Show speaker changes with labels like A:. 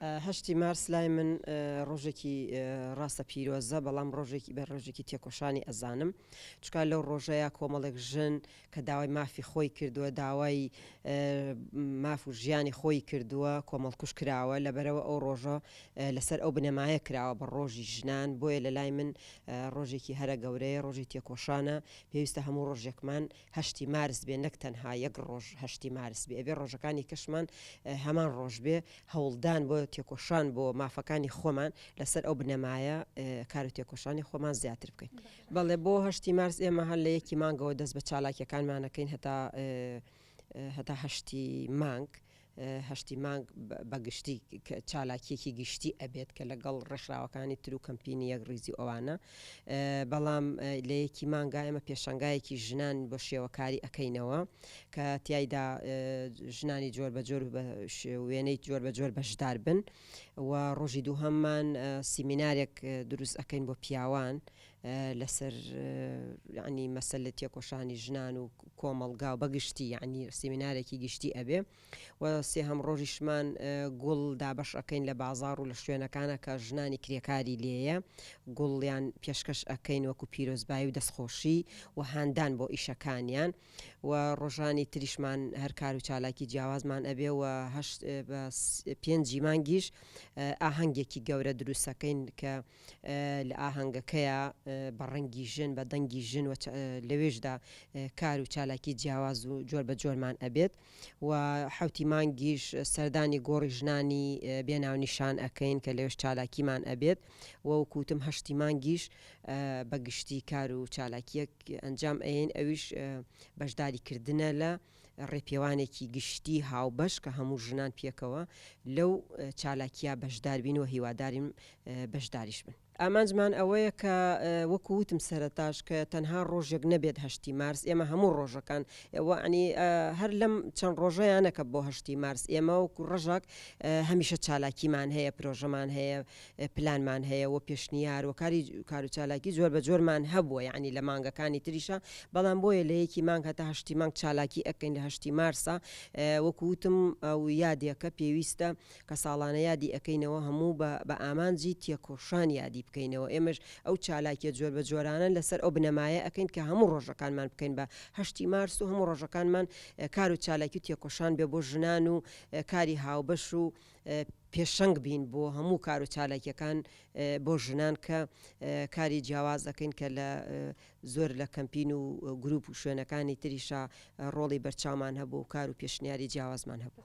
A: هەشتی مارس لای من ڕۆژێکی ڕاستە پیرۆزە بەڵام ڕۆژێکی بە ڕۆژێکی تێکۆشانی ئەزانم چکار لەو ڕۆژەیە کۆمەڵێک ژن کە داوای مافی خۆی کردووە داوای ماف و ژیانی خۆی کردووە کۆمەڵکوش کراوە لە بەرەوە ئەو ڕۆژە لەسەر ئەو بنەمایە کراوە بە ڕۆژی ژنان بۆیە لە لای من ڕۆژێکی هەرە گەورەیە ڕۆژی تێکۆشانە پێویستە هەموو ڕۆژێکمان هەشتی مارس بێ نەک تەنها یەک ڕۆژ هەشتی مارس بێ ئەبێ ڕۆژەکانی کەشمان هەمان ڕۆژ بێ هەوڵدان بۆ تێکۆشان بۆ مافەکانی خۆمان لەسەر ئەو بنەمایە کار و تێکۆشانی خۆمان زیاتر بکەین بەڵێ بۆ هەشتی مارس ئێمە هەر لە یەکی مانگەوە دەست بە چالاکیەکانمانەکەین هەتا هەتا هەشتی مانگ هەشتی مانگ بە گشتی چالاکیەکی گشتی ئەبێت کە لە گەڵ ڕێکخراوەکانی تر و کەمپینی یەکڕیزی و ئەوانە بەڵام لە یەکی مانگا ئێمە پێشەنگایەکی ژنان بۆ شێوە کاری ئەکەینەوە کە تیایدا ژنانی جۆر بە جۆر بە وێنەی جۆر بە جۆر بەشدار بن و ڕۆژی دووهەممان سیمینارێک دروست ئەکەین بۆ پیاوان لەسەر یەعنی مەسەلە تێکۆشانی ژنان و کۆمەڵگا و بەگشتی یەعنی سیمینارێکی گشتی ئەبێ و سێهەم ڕۆژیشمان گوڵ دابەش ئەکەین لە بازاڕ و لە شوێنەکانە کە ژنانی کرێکاری لێیە گوڵیان پێشکەش ئەکەین وەکو پیرۆزبایی و دەستخۆشی و هاندان بۆ ئیشەکانیان و ڕۆژانی تریشمان هەر کار و چالاکی جیاوازمان ئەبێ و هەشت بە پێنجی مانگیش ئاهەنگێکی گەورە دروستەکەین کە لە ئاهەنگەکەیا بە ڕەنگی ژن بە دەنگی ژن و لەوێشدا کار و چالاکی جیاواز و جۆر بە جۆرمان ئەبێت و حوتی مانگیش سەردانی گۆڕی ژنانی بێناونیشان ئەکەین کە لەوێش چالاکیمان ئەبێت و کوتم هەشتی مانگیش بە گشتی کار و چالاکیەک ئەنجام ئەین ئەویش بەشداری کردنە لە ڕێپێوانێکی گشتی هاوبەش کە هەموو ژنان پێکەوە لەو چالاکیە بەشداربین و هیوادارین بەشداریش بن. ئامانجمان ئەوەیە کە وەکو وتم سەرەتاش کە تەنها ڕۆژێک نەبێت هەشتی مارس ئێمە هەموو ڕۆژەکان وەعنی هەر لەم چەند ڕۆژەیانەکە بۆ هەشتی مارس ئێمە وەکو ڕژاک هەمیشە چالاکیمان هەیە پرۆژەمان هەیە پلانمان هەیە و پێشنیار و کاری کارو چالاکی جۆر بە جۆرمان هەبووە یەعنی لە مانگەکانی تریشا بەڵام بۆیە لە یەکی مانگ هەتا هەشتی مانگ چالاکی ئەکەین لە هەشتی مارسا وەکو وتم ئەو یادێکە پێویستە کە ساڵانە یادی ئەکەینەوە هەموو بە بە ئامانجی تێکۆشان یادی بکەینەوە ئێمەش ئەو چالاکیە جۆر بە جۆرانە لەسەر ئەو بنەمایە ئەکەین کە هەموو ڕۆژەکانمان بکەین بە هەشتی مارس و هەموو ڕۆژەکانمان کارو چالاکی و تێکۆشان بێ بۆ ژنان و کاری هاوبەش و پێشەنگ بین بۆ هەموو کار و چالاکیەکان بۆ ژنان کە کاری جیاواز دەکەین کە لە زۆر لە کەمپین و گروپ و شوێنەکانی تریشا ڕۆڵی بەرچاومان هەبوو و کار و پێشنیاری جیاوازمان هەبوو.